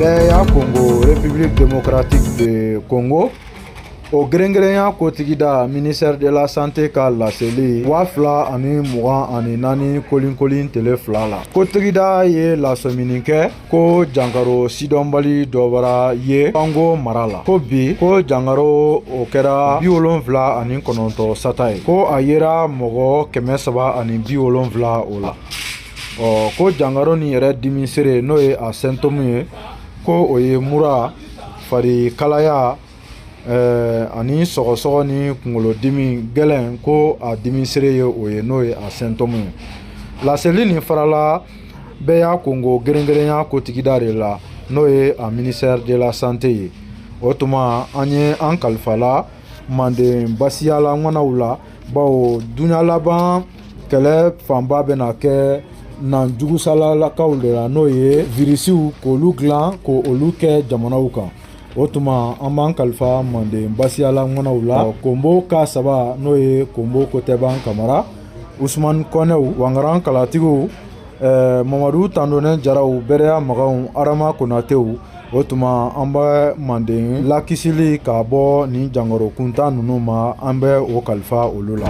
bɛɛya kongo république démocratique de congo o gɛrɛngɛrɛnya kotigida ministère de la santé ka laseli waa fila ani mugan ani naani kolinkolin tele fila la kotigida ye lasɔmini kɛ ko jankaro sidɔnbali dɔ bara ye kwango mara la ko bi ko jankaro o kɛra bi wolonfila ani kɔnɔntɔ sata ye ko a yera mɔgɔ kɛmɛ saba ani bi wolonfila o la ɔ ko jankaro nin yɛrɛ dimi seere n'o ye a symptôme ye ko o ye mura fari kalaya ɛɛ ani sɔgɔsɔgɔ ni kunkolodimi gɛlɛn ko a dimi seere ye o ye n'o ye a symptôme ye laseli nin farala bɛɛya kongo gɛrɛngɛrɛnya kotigida de la n'o ye a ministère de la santé ye o tuma an ye an kalifala manden basiyala ŋanaw la bawo duɲa laban kɛlɛ fanba bɛna kɛ na jugusalalakaw de la n'o ye virisiw k'olu dilan k'olu kɛ jamanaw kan o tuma an b'an kalifa manden basiyala ŋanaw la konbo ka saba n'o ye konbo kotɛban kamara usumani kɔnɛw wangaran kalatigiw eh, mamadu tandonnen jaraw bɛrɛya maganw arama konatew o tuma an bɛ manden lakisili ka bɔ nin jankaro kuntan ninnu ma an bɛ o kalifa olu la